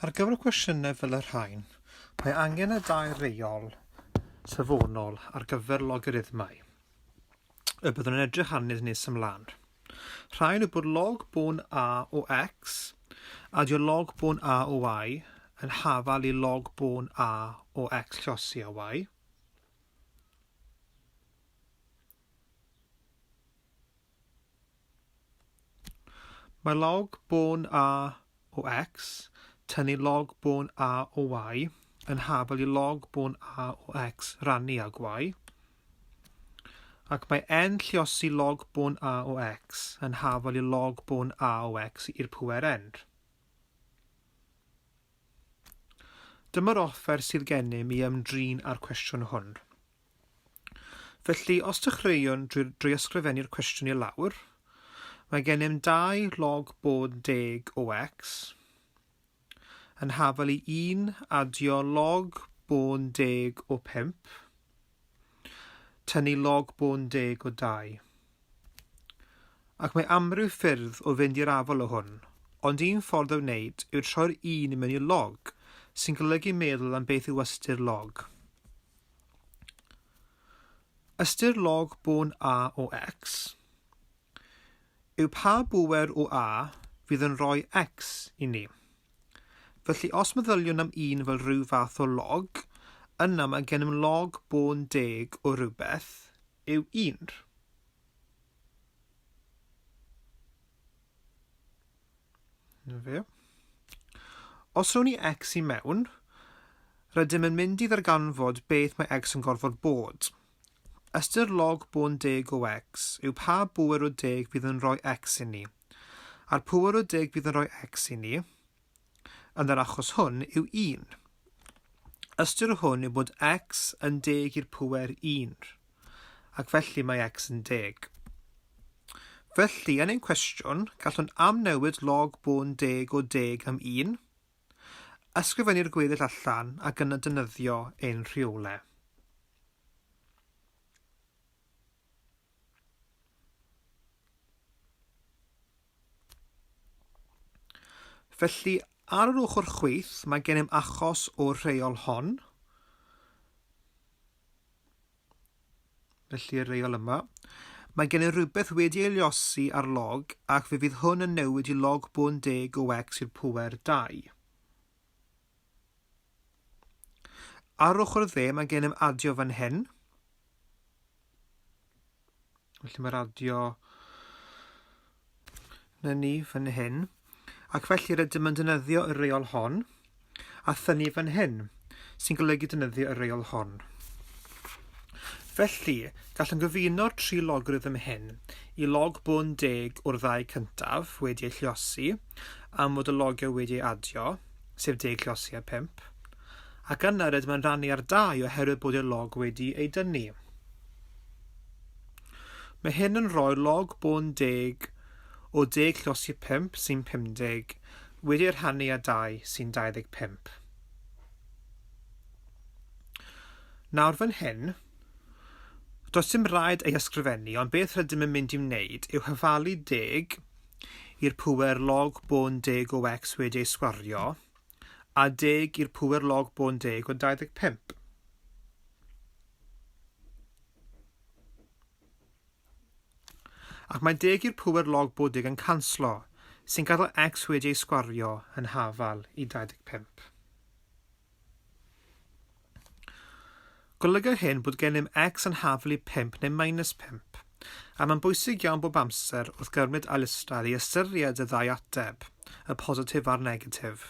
Ar gyfer y cwestiynau fel y rhain, mae angen y dau reol safonol ar gyfer logarithmau y byddwn yn edrych arnydd nes ymlaen. Rhaid yw bod log bôn a o x a dio log bôn a o y yn hafal i log bôn a o x llosi a y, Mae log bôn A o X, tynnu log bôn A o Y, yn hafel i log bôn A o X rannu ag Y, ac mae N lliosi log bôn A o X yn hafel i log bôn A o X i'r pŵer N. Dyma'r offer sydd gennym i ymdrin â'r cwestiwn hwn. Felly, os dechreuwn drwy drwy ysgrifennu'r cwestiwn i lawr, mae gennym 2 log bod deg o x yn hafal i 1 adio log bod deg o 5, tynnu log bod deg o 2. Ac mae amryw ffyrdd o fynd i'r afael o hwn, ond un ffordd o wneud yw troi'r 1 i mewn i log, sy'n golygu meddwl am beth yw ystyr log. Ystyr log bôn A o X yw pa bŵer o A fydd yn rhoi X i ni. Felly os meddyliwn am un fel rhyw fath o log, yna mae gennym log bôn deg o rywbeth yw un. Na fe. Os rown i x i mewn, rydym yn mynd i ddarganfod beth mae x yn gorfod bod. Ystyr log bôn deg o x yw pa bŵer o deg bydd yn rhoi x i ni. A'r pŵer o deg bydd yn rhoi x i ni, yn yr achos hwn, yw 1. Ystyr hwn yw bod x yn deg i'r pŵer 1. ac felly mae X yn deg. Felly, yn ein cwestiwn, gallwn amnewid log bôn deg o deg am un, ysgrifennu'r gweddill allan ac yna defnyddio ein rheole. Felly, ar yr ochr chwith, mae gennym achos o'r rheol hon. Felly y reol yma. Mae gennym rhywbeth wedi ei liosi ar log ac fe fydd hwn yn newid i log bôn deg o x i'r pŵer 2. Ar ochr dde mae gennym adio fan hyn. Felly mae radio na ni fan hyn. Ac felly rydym yn dynyddio y reol hon a thynnu fan hyn, sy'n golygu dynyddio y reol hon. Felly, gallwn gyfuno'r tri logarithm hyn i log bwn deg o'r ddau cyntaf wedi ei lliosi am fod y logiau wedi ei adio, sef deg lliosi a pimp, ac yna rydym yn rannu ar dau oherwydd bod y log wedi ei dynnu. Mae hyn yn rhoi log bôn deg o deg llosgi pump sy'n 50 wedi ei rhannu â dau sy'n 25. Nawr fan hyn, does dim rhaid ei ysgrifennu ond beth rydym yn mynd i wneud yw hyfalu deg i'r pŵer log bôn deg o x wedi ei sgwario a deg i'r pŵer log bôn deg o 25. Ac mae deg i'r pŵer log bod deg yn canslo, sy'n gadael x wedi ei sgwario yn hafal i 25. Golyga hyn bod gennym X yn haflu 5 neu minus 5, a mae'n bwysig iawn bob amser wrth gymryd ailystyr i ystyried y ddau ateb, y positif a'r negatif.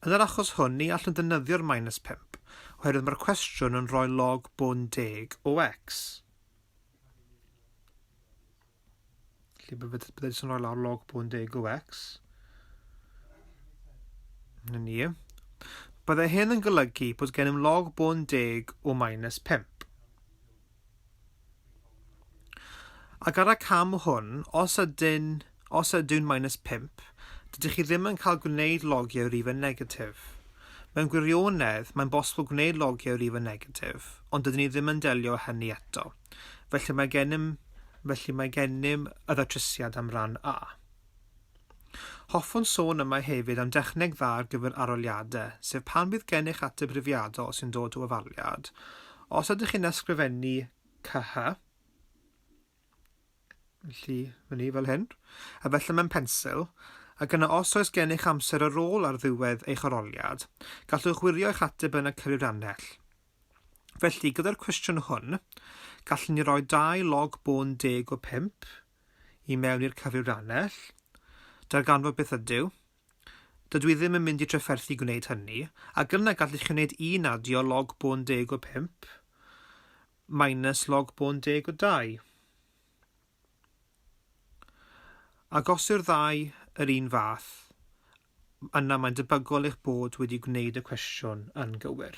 Yn yr achos hwn ni allwn ddefnyddio'r minus 5, oherwydd mae'r cwestiwn yn rhoi log bôn deg o X. Felly bydd bydd bydd yn rhoi lawr log bwn deg o x. Na ni. Byddai hyn yn golygu bod gennym log bwn deg o minus 5. Ac ar y cam hwn, os ydyn Os ydyw'n minus pump, dydych chi ddim yn cael gwneud logiau rife negatif. Mewn gwirionedd, mae'n bosibl gwneud logiau rife negatif, ond dydyn ni ddim yn delio â hynny eto. Felly mae gennym Felly mae gennym y ddatrysiad am ran A. Hoffwn sôn yma hefyd am dechneg dda ar gyfer arholiadau, sef pan fydd gennych ateb rifiadol sy'n dod o ofaliad. Os ydych chi'n ysgrifennu CH, Felly, mae ni fel hyn. A felly mae'n pensil. Ac yna os oes gennych amser ar ôl ar ddiwedd eich aroliad, gallwch wirio eich ateb yn y cyfrifrannell. Felly, gyda'r cwestiwn hwn, gallwn ni roi dau log bôn deg o pump i mewn i'r cyfrifrannell, darganfod beth ydyw, Dydw i ddim yn mynd i drafferthu gwneud hynny, ac yna gallech chi wneud un adio log bôn deg o pump minus log bôn deg o dau. Ac os yw'r ddau yr un fath, yna mae'n debygol eich bod wedi gwneud y cwestiwn yn gywir.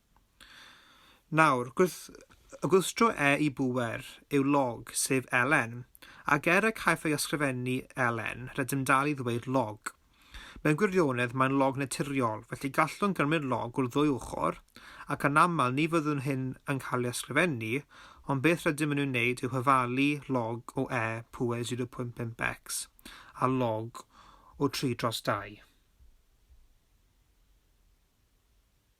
Nawr, gwrth gwstro e i bŵer yw log, sef Elen, ac er y caiff ei ysgrifennu Elen, rydym dal i ddweud log. Mewn gwirionedd, mae'n log naturiol, felly gallwn gymryd log o'r ddwy ochr, ac anaml ni fyddwn hyn yn cael ei ysgrifennu, ond beth rydym yn ei wneud yw hyfalu log o e pŵer 0.5x â log o 3 dros 2.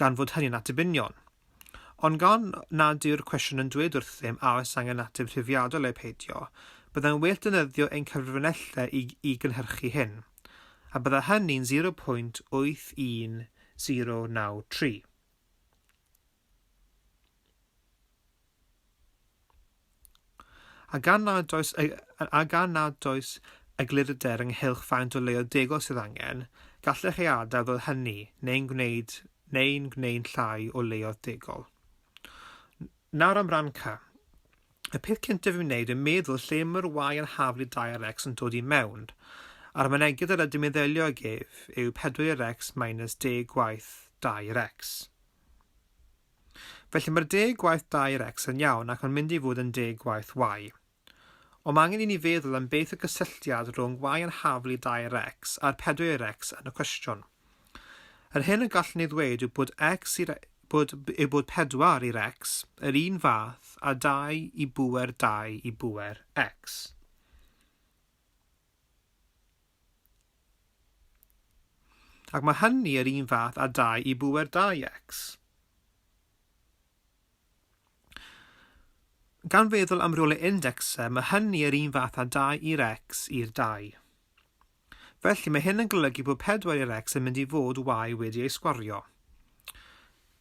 gan fod hynny'n ateb union. Ond gan nad yw'r cwestiwn yn dweud wrthym a oes angen ateb rhifiadol neu peidio, byddai'n well defnyddio ein cyfrinellau i, i gynhyrchu hyn. A bydda hynny'n 0.81093. A gan nad oes, a gan nad oes eglurder ynghylch faint o leoedd degol sydd angen, gallech ei adael fel hynny neu'n gwneud neu'n gwneud llai o leoedd degol. Nawr am Ranca. Y peth cyntaf i'w wneud yn meddwl lle mae'r Y yn haflu 2 ar X yn dod i mewn. A'r mynegiad yr ydym yn ddelio ag ef yw 4 i'r X minus deg gwaith 2 i'r X. Felly mae'r deg gwaith da i'r X yn iawn ac mae'n mynd i fod yn deg gwaith Y. Ond mae angen i ni feddwl am beth y gysylltiad rhwng Y yn haflu da i'r X a'r pedwar i'r X yn y cwestiwn. Yr hyn y gallwn ei ddweud yw bod X i'r bod, yw bod pedwar i'r X yr un fath a dau i bŵer dau i bŵer X. Ac mae hynny yr un fath â dau i bŵer 2x. Gan feddwl am rolau indecsau, mae hynny yr un fath â 2 i'r x i'r 2. Felly mae hyn yn golygu bod 4 i'r x yn mynd i fod y y wedi ei sgwario.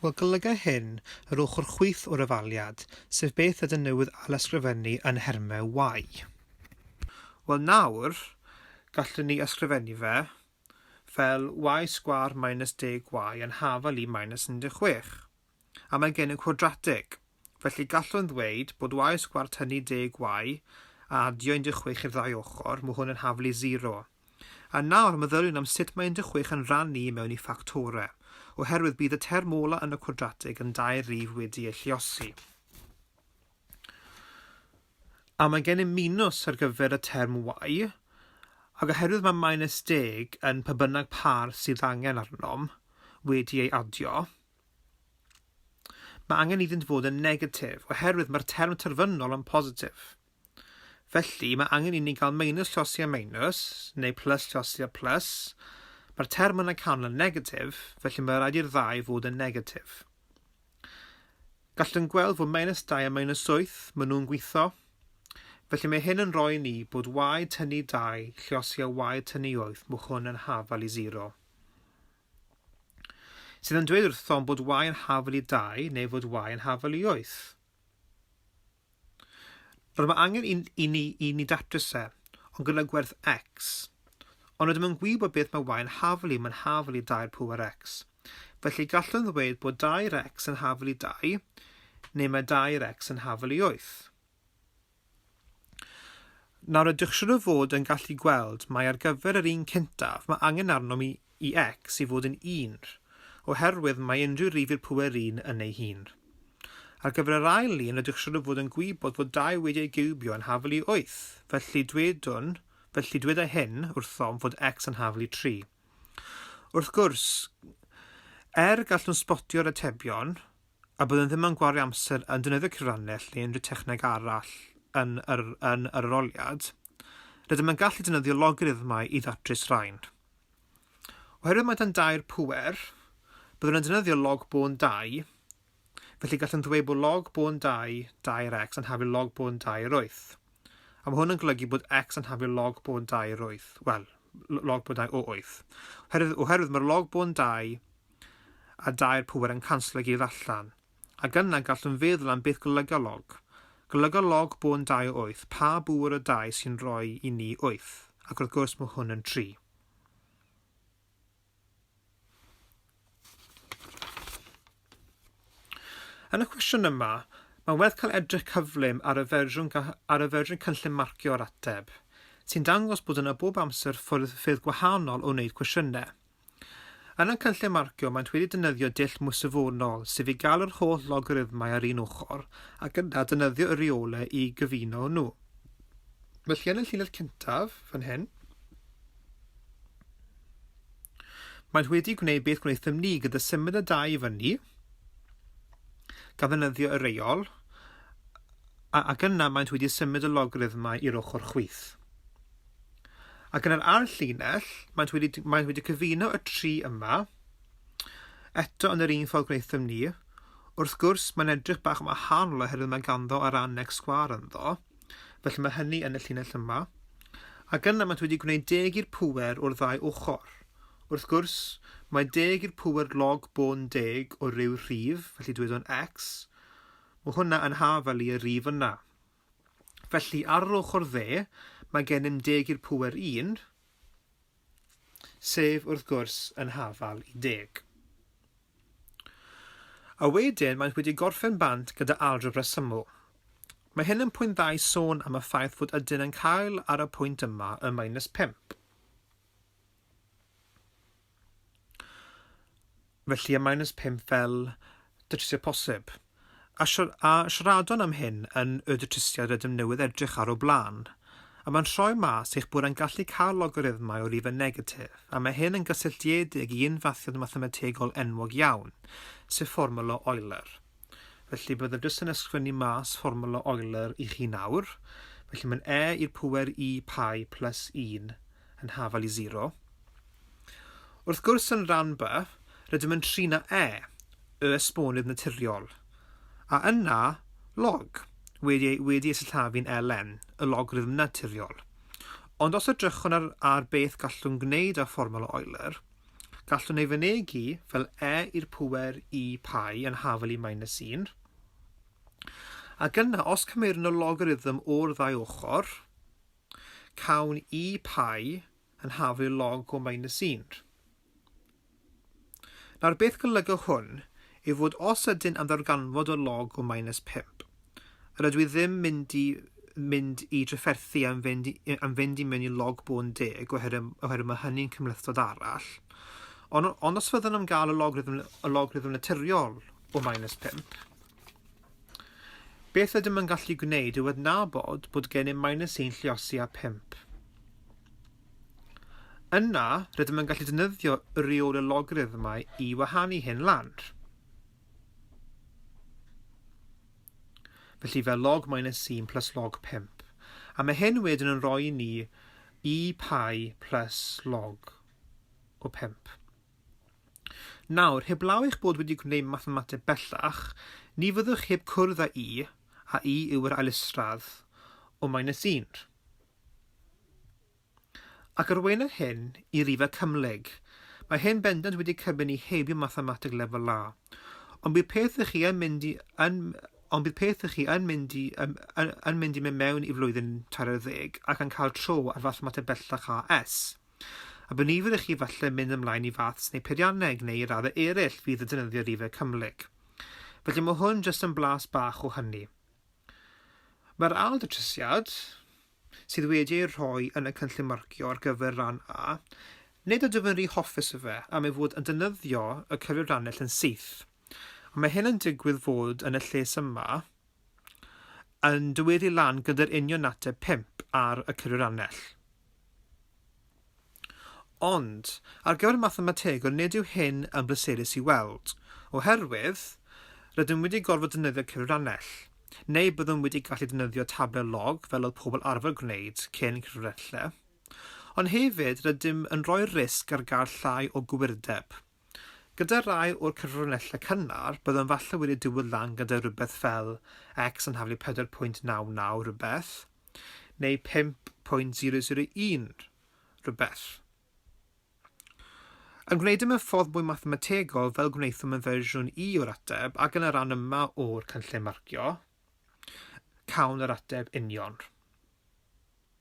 Wel, golyga hyn yr ochr chwith o'r efaliad, sef beth ydyn newydd ailysgrifennu yn nhermau Y. Wel, nawr, gallwn ni ysgrifennu fe fel y sgwâr minus deg y yn hafal i minus 16. A mae gennym cwadratig. Felly gallwn ddweud bod Y sgwâr tynnu deg Y a adio 16 i'r ddau ochr, mae hwn yn haflu 0. A nawr meddyliwn am sut mae 16 yn rhannu i mewn i ffactorau, oherwydd bydd y term ola yn y cwadratig yn dair rif wedi ei lluosi. A mae gennym minws ar gyfer y term y, ac oherwydd mae minus deg yn pa bynnag pâr sydd angen arnom wedi ei adio, Mae angen iddynt fod yn negatif, oherwydd mae'r term terfynol yn positif. Felly, mae angen i ni gael meinus llosi a meinus, neu plus llosi a plus. Mae'r term yn y canol yn negatif, felly mae rhaid i'r ddau fod yn negatif. Gallwn gweld fod meinus 2 a meinus 8, maen nhw'n gweithio. Felly mae hyn yn rhoi ni bod y tynnu 2 llosi a y tynnu 8, mae hwn yn hafal i 0. Sydd yn dweud wrthom bod Y yn hafal i dau neu fod Y yn hafal i wyth. Rydym mae angen i, i, ni, i ni datrys e, ond gyda gwerth x. Ond rydym yn gwybod beth mae Y yn hafal i, mae'n hafal i dau'r pŵer x. Felly gallwn ddweud bod dau'r x yn hafal i dau, neu mae dau'r x yn hafal i wyth. Nawr ydych siŵr o fod yn gallu gweld mai ar gyfer yr un cyntaf mae angen arnom i i x i fod yn 1, oherwydd mae unrhyw rif i'r pŵer 1 yn ei hun. Ar gyfer yr ail un rydych siŵr o fod yn gwybod fod 2 wedi ei giwbio yn hafel i 8, felly dwedwn, felly dweda hyn wrthom fod x yn hafel i 3. Wrth gwrs, er gallwn sbotio'r atebion, a byddwn ddim yn gwario amser yn defnyddio cyfrannell neu unrhyw techneg arall yn yr, yn yr aroliad, rydym yn gallu defnyddio logarithmau i ddatrys rhain. Oherwydd mae dan dair pŵer, byddwn yn defnyddio log bôn 2, felly gallwn ddweud bod log bôn 2 dair x yn haflu log bôn 2 yr wyth. A mae hwn yn golygu bod x yn haflu log bôn 2 yr wyth. Wel, log bôn 2 o wyth. Oherwydd, oherwydd mae'r log bôn 2 a dau'r pŵer yn canslo i gyd allan, ac yna gallwn feddwl am beth golyga log. Golyga log bôn dau o wyth, pa bŵer o dau sy'n rhoi i ni wyth, ac wrth gwrs mae hwn yn tri. Yn y cwestiwn yma, mae'n werth cael edrych cyflym ar y fersiwn, ar y fersiwn cynllun marcio o'r ateb, sy'n dangos bod yna bob amser ffyrdd, ffyrdd gwahanol o wneud cwestiynau. Yn y cynllun marcio maent wedi defnyddio dull mwysifwrnol, sef i gael yr holl logarithmau ar un ochr, ac yna defnyddio y rheolau i gyfuno nhw. Felly yn y llinell cyntaf, fan hyn, maent wedi gwneud beth gwnaethom ni gyda symud y dau i fyny, gan ddefnyddio y reol, ac yna maent wedi symud y logarithmau i'r ochr chwith. Ac yn yr ail llinell, maent wedi, maent wedi cyfuno y tri yma, eto yn yr un ffordd gwnaethom ni. Wrth gwrs, mae'n edrych bach yn wahanol oherwydd mae ganddo ar annex sgwar ynddo, felly mae hynny yn y llinell yma. Ac yna maent wedi gwneud deg i'r pŵer o'r ddau ochr. Wrth gwrs, mae deg i'r pŵer log bôn deg o ryw rhif, felly dweud o'n x. Mae hwnna yn hafel i y rhif yna. Felly, ar yr ochr dde, mae gennym deg i'r pŵer un, sef, wrth gwrs, yn hafal i deg. A wedyn, maent wedi gorffen bant gyda algebra syml. Mae hyn yn pwynt dda i sôn am y ffaith fod ydyn yn cael ar y pwynt yma y minus pump. Felly y minus 5 fel datrisiad posib. A, siar a siaradwn am hyn yn y datrisiad rydym newydd edrych ar o blaen. A mae'n rhoi mas eich bod yn gallu cael logarithmau o rifau negatif, a mae hyn yn gysylltiedig i unfathiad mathemategol enwog iawn, sef fformwla Euler. Felly byddaf jyst yn ysgrifennu mas fformwla Euler i chi nawr. Felly mae'n e i'r pŵer i pi plus 1 yn hafal i zero. Wrth gwrs yn rhan B, rydym yn tri na e, y esbonydd naturiol, a yna log, wedi ei, wedi ei sillafu'n ln, y logarithm naturiol. Ond os edrychwn ar, ar beth gallwn gwneud â fformol o Euler, gallwn ei fynegi fel e i'r pwer i pai yn hafal i minus 1, ac yna os cymerwn y logarithm o'r ddau ochr, Cawn i pie yn haflu log o mainisînr. Nawr beth golyga hwn yw fod os ydyn am ddarganfod y log o minus 5, yr ydw i ddim mynd i mynd i drafferthu am fynd i, am fynd i mewn i log bôn deg oherwydd, oherwydd mae hynny'n cymhlethdod arall. Ond, ond os fyddwn am gael y log rhythm, y log rhythm naturiol o minus 5, Beth ydym yn gallu gwneud yw adnabod bod gennym minus 1 lliosi a 5. Yna, rydym yn gallu defnyddio y reol y logarithmau i wahanu hyn lan. felly fel log minus 1 plus log 5. A mae hyn wedyn yn rhoi ni i pi plus log o 5. Nawr, heblaw eich bod wedi gwneud mathemateg bellach, ni fyddwch heb cwrdd â'i, a'i yw yr ailystradd o minus un. Ac arweinir hyn i rifau cymhlyg. Mae hyn bendant wedi cybyn i heibio mathemateg lefel A. Ond bydd peth ych chi yn mynd i yn ond bydd peth ych chi yn mynd i yn, yn, yn mynd i mewn i flwyddyn tair ar ddeg ac yn cael tro ar fathemateg bellach AS. A bu nifer i chi falle mynd ymlaen i faths neu peirianneg neu i raddau ereill fydd yn defnyddio rifau cymhlyg. Felly mae hwn jyst yn blas bach o hynny. Mae'r ail ddatrysiad, sydd wedi ei rhoi yn y cynllun marcio ar gyfer ran A, nid ydw yn rhy hoffus o fe am ei fod yn defnyddio y cyfrifiannell yn syth. Ond mae hyn yn digwydd fod yn y lles yma, yn dyweddu i lan gyda'r union ateb pump ar y cyfriwrannell. Ond, ar gyfer y mathemategwr nid yw hyn yn bleserus i weld, oherwydd rydym wedi gorfod defnyddio cyfriwrannell, neu byddwn wedi gallu defnyddio tablau log fel oedd pobl arfer gwneud cyn cyfriwrannell, ond hefyd rydym yn rhoi'r risg ar gael llai o gywirdeb. Gyda rhai o'r cyfrinellau cynnar, byddwn falle wedi diwedd lan gyda rhywbeth fel X yn haflu 4.99 rhywbeth, neu 5.001 rhywbeth. Yn gwneud e mewn ffordd mwy mathemategol fel gwnaethom yn fersiwn i o'r ateb ac yn y rhan yma o'r cynllun marcio, cawn yr ateb union.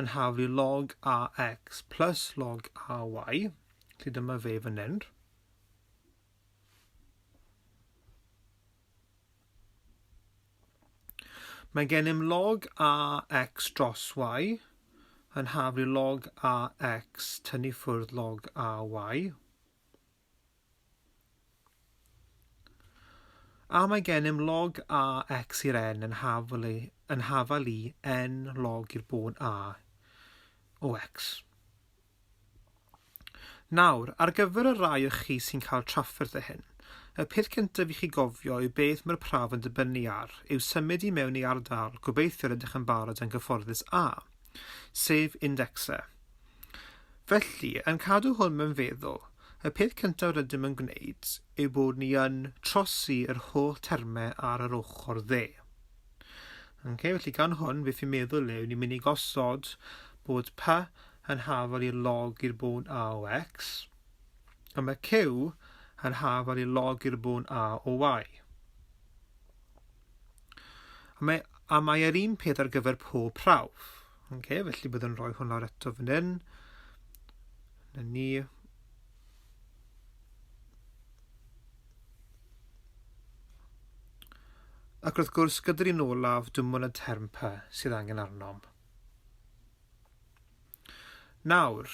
yn haflu log ax plus log ay, lle dyma fe fan hyn. Mae gennym log ax dros y yn haflu log ax tynnu ffwrdd log ay. A mae gennym log A, X i'r N yn hafal i, yn hafal i N log i'r bod A o X. Nawr, ar gyfer y rai o chi sy'n cael trafferth o hyn, y peth cyntaf i chi gofio yw beth mae'r prawf yn dibynnu ar, yw symud i mewn i ardal, gobeithio rydych yn barod yn gyfforddus A, sef Indexe. Felly, yn cadw hwn mewn feddwl, y peth cyntaf rydym yn gwneud yw bod ni yn trosi yr holl termau ar yr ochr dde. Okay, felly gan hwn, beth fi'n meddwl yw, ni'n mynd i gosod bod P yn hafal i'r log i'r bôn A o X, a mae Q yn hafal i'r log i'r bôn A o Y. A mae, a mae yr un peth ar gyfer pob prawf. Okay, felly byddwn rhoi hwn lawr eto fan hyn. Na ni. Ac wrth gwrs, gyda'r un olaf, dim ond y term pa sydd angen arnom. Nawr,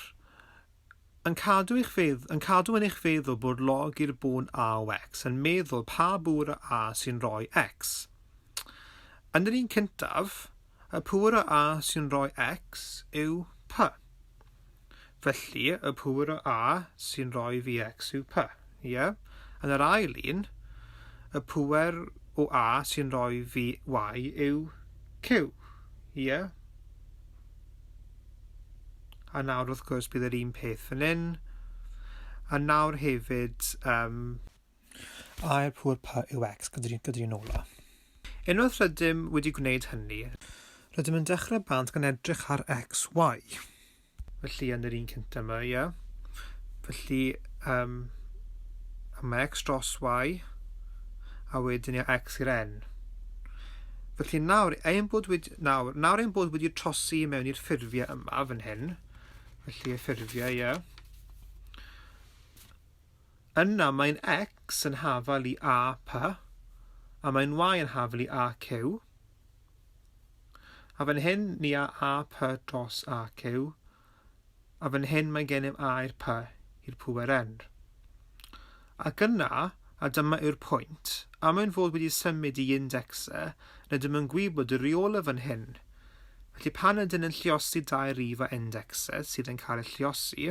yn cadw eich fedd- yn cadw yn eich feddwl bod log i'r bôn a o x yn meddwl pa bŵr o a sy'n rhoi x. Yn yr un cyntaf, y pŵr o a sy'n rhoi x yw p. Felly, y pŵr o a sy'n rhoi fi x yw p. Ie? Yn yr ail un, y pŵer o a sy'n rhoi fi y yw q. Ie? A nawr wrth gwrs bydd yr un peth fan hyn. A nawr hefyd, um, air pŵr pa yw X gyda'r gyda un ola. Unwaith rydym wedi gwneud hynny, rydym yn dechrau bant gan edrych ar XY. Felly yn yr un cyntaf yma, ie. Yeah. Felly, um, mae X dros Y, a wedyn i X i'r N. Felly nawr, ein bod wedi, Nawr, nawr ein bod wedi trosi mewn i'r ffurfiau yma fan hyn, felly y ffurfiau, ie. Yna mae'n x yn hafal i a p, a mae'n y yn hafal i a q. A fan hyn ni a a p dros a q, A fan hyn mae gennym air pa i'r pŵer enr. Ac yna, a dyma yw'r pwynt, am ein fod wedi symud i indexe, rydym yn gwybod y rheolau fan hyn. Felly pan ydyn yn lliosi dau rif a indexe sydd yn cael eu lliosi,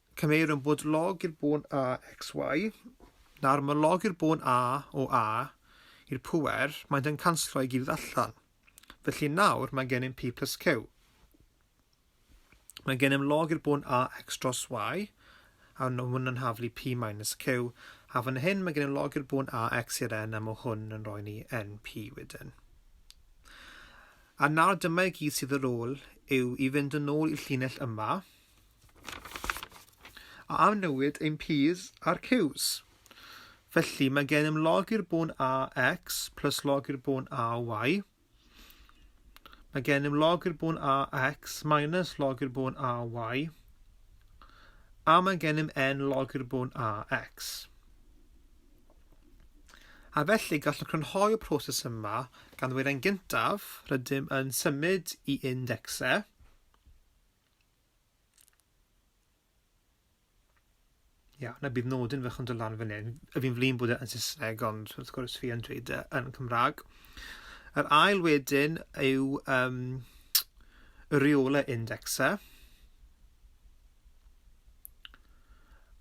Cymerum bod log i'r bôn a xy, nawr mae log i'r bôn a o a i'r pŵer, maent yn canslo i gyd allan. Felly nawr mae gennym p plus q. Mae gennym log i'r bôn a x dros y, a hwn yn haflu p minus q, a fan hyn mae gennym log i'r bôn a x i'r n, a mae hwn yn rhoi ni np wedyn. A nawr dyma i gyd sydd ar ôl yw i fynd yn ôl i'r llinell yma, A am newid ein p's a'r q's? Felly, mae gennym log i'r bôn a x plus log i'r bôn a y. Mae gennym log i'r bôn a x minus log i'r bôn a y. A mae gennym n log i'r bôn a x. A felly, gallwn crynhoi y proses yma gan ddweud yn gyntaf, rydym yn symud i indexau, Ia, na bydd nodyn fach yn dod lan fan hyn. A fi'n flin bod e yn Saesneg, ond wrth gwrs fi yn dweud e yn Cymraeg. Yr ail wedyn yw um, y reola indexau.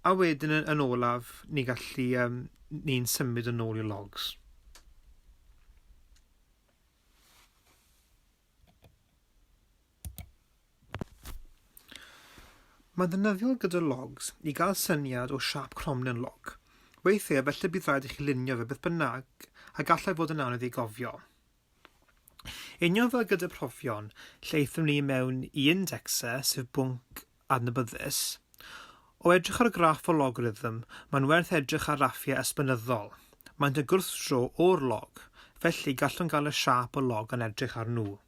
A wedyn yn, yn olaf, ni gallu, um, ni'n symud yn ôl i logs. Mae'n ddefnyddiol gyda logs i gael syniad o siap cromlin log. Weithiau efallai bydd rhaid i chi lunio fe beth bynnag a gallai fod yn anodd ei gofio. Union fel gyda profion, lle aethon ni mewn i indexa, sef bwnc adnabyddus, o edrych ar graff o logarithm, mae'n werth edrych ar raffiau esbynyddol. Mae'n y gwrthdro o'r log, felly gallwn gael y siap o log yn edrych ar nhw.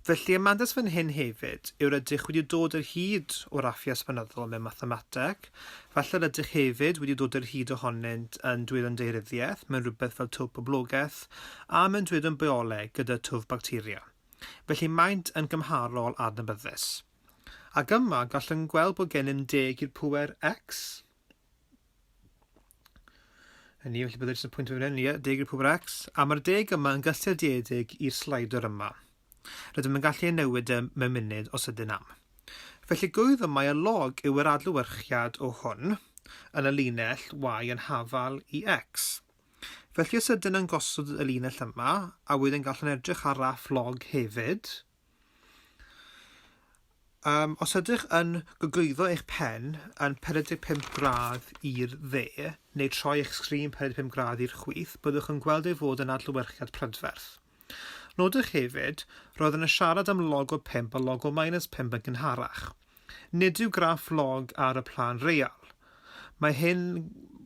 Felly, y mantais fan hyn hefyd yw'r ydych wedi dod yr hyd o raffia esbonyddol mewn mathemateg, falle yr ydych hefyd wedi dod yr hyd ohonynt yn dwylo'n daearyddiaeth mewn rhywbeth fel twf poblogaeth, a mewn dwylo'n bioleg gyda twf bacteria. Felly maent yn gymharol adnabyddus. Ac yma, gallwn gweld bod gennym deg i'r pŵer x. Yn ni, felly byddai'r jyst yn pwynt fan hyn, ie, deg i'r pwbr X, a mae'r deg yma yn gysylltiedig i'r slider yma. Rydym yn gallu ei newid e mewn munud os ydyn am. Felly gwydd y mae y log yw yr adlywyrchiad o hwn yn y linell y yn hafal i X. Felly os ydyn yn gosod y linell yma, a wedyn gallwn edrych ar raff log hefyd, Um, os ydych yn gogwyddo eich pen yn 45 gradd i'r dde, neu troi eich sgrin 45 gradd i'r chwith, byddwch yn gweld ei fod yn adlewyrchiad prydferth. Nodwch hefyd, roedd yn y siarad am logo 5 a logo minus 5 yn gynharach. Nid yw graff log ar y plân real. Mae hyn,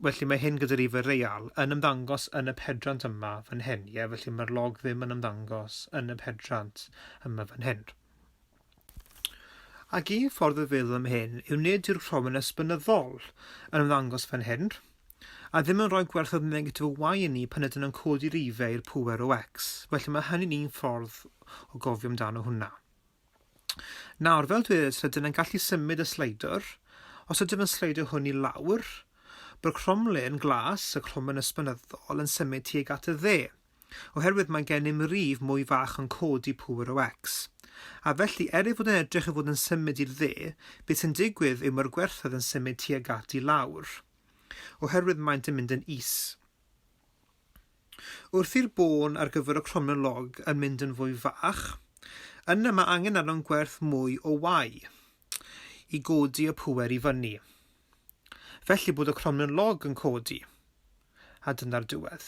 felly mae hyn gyda'r IFA real, yn ymddangos yn y pedrant yma fan hyn. Ie, felly mae'r log ddim yn ymddangos yn y pedrant yma fan hyn. Ac un ffordd o feddwl am hyn yw nid yw'r rhofyn esbynyddol yn ymddangos fan hyn, a ddim yn rhoi gwerthoedd negatif o y i ni pan ydyn nhw'n codi'r IFA i'r pŵer o x. Felly mae hynny'n un ffordd o gofio amdano hwnna. Nawr, fel dwedais, rydym yn gallu symud y sleidwr. Os ydym yn sleidio hwn i lawr, byr cromlin glas, y cromlin ysbynyddol, yn symud tuag at y dde, oherwydd mae gennym rif mwy fach yn codi pŵer o X. A felly, er ei fod yn edrych ei fod yn symud i'r dde, beth sy'n digwydd yw mae'r gwerthoedd yn symud tuag at i lawr, oherwydd maent yn mynd yn is. Wrth i'r bôn ar gyfer y cromlin log yn mynd yn fwy fach, yna mae angen arnom gwerth mwy o wai i godi y pŵer i fyny. Felly bod y cromlin log yn codi, a dyna'r diwedd.